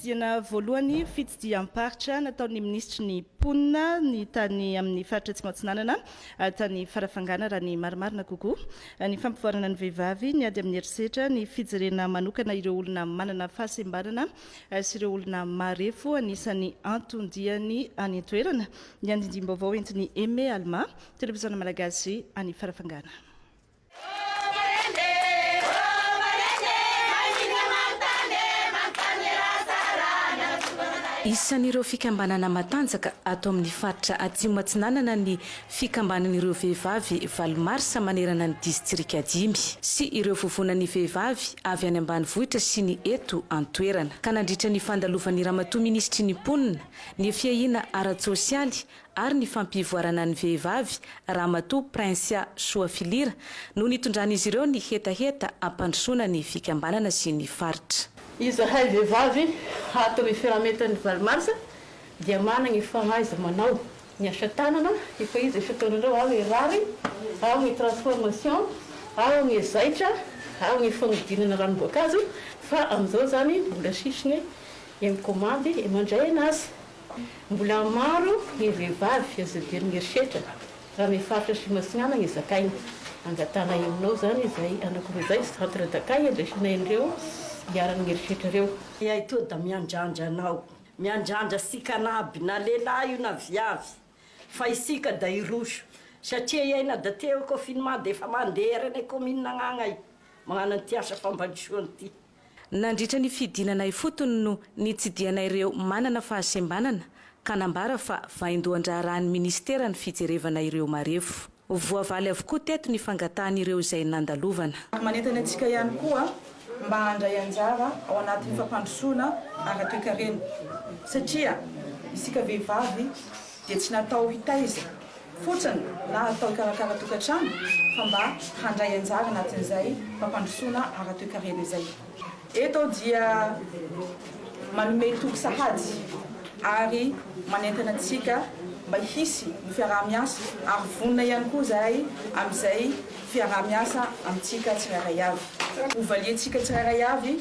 Fitsidihana voalohany, fitsidiham-paritra nataon'ny minisitry ny mponina ny tany amin'ny faritra Atsimo Atsinanana tany Farafangana raha ny marimarina kokoa. Ny fampivoarana ny vehivavy, ny ady amin'ny herisetra, ny fijerena manokana ireo olona manana fahasembanana sy ireo olona marefo anisan'ny anton-diany any an-toerana. Ny andindim-baovao entin'i Aimé Alma, Televiziona Malagasy any Farafangana. Isan'ireo fikambanana matanjaka ato amin'ny faritra Atsimo-Atsinanana ny Fikambanan'ireo Vehivavy valo Marsa manerana ny Distrika dimy sy ireo Vovonan'ny Vehivavy avy any ambanivohitra sy ny eto an-toerana ka nandritra ny fandalovan'ny Ramatoa Minisitry ny Mponina, ny Fiahiana ara-tsosialy ary ny fampivoarana ny vehivavy Ramatoa Princia Soafilira no nitondran'izy ireo ny hetaheta hampandrosoana ny fikambanana sy ny faritra. Izahay vehivavy ato amin'ny Firamentan'ny valo marsa dia manana ny fahaiza-manao, ny asa tanana efa izy isan-taonan'ireo ao Erary, ao amin'ny Transformation, ao amin'ny Zaitra, ao amin'ny fanodinana ranom-boankazo fa amin'izao izany mbola sisiny e mikomandy e mandray anazy Mbola maro ny vehivavy azo iadian'ny herisetra raha amin'ny faritra Atsimo Atsinanana ny zakaina. Angatahana henonao izany izay hanakoroa izay centre d'accueil handraisana ireo iharan'ny herisetra ireo. Iay toa da miandrandra anao, miandrandra sikanaby na lehilahy io na viavy fa isika da hiroso satria iay na da te ho confinement da efa mandeha ary any commune agnagny ay magnano an'ity asa fampandrosoana ity. Nandritra ny fidinana ifotony no nitsidihanaireo manana fahasembanana ka nambara fa vaindohan-draharahan'ny minisitera ny fijerevana ireo marefo. Voavaly avokoa teto ny fangatahan'ireo izay nandalovana. Ary manentana antsika ihany koa mba handray anjara ao anatin'ny fampandrosoana ara-toekarena satria isika vehivavy dia tsy natao hitaiza fotsiny na atao hikarakara tokantrano fa mba handray anjara anatin'izay fampandrosoana ara-toekarena izay. Eto aho dia manome toky sahady ary manentana antsika mba hisy ny fiaraha-miasa ary vonona ihany koa izahay amin'izay fiaraha-miasa amintsika tsirairay avy. Hovaliantsika tsirairay avy.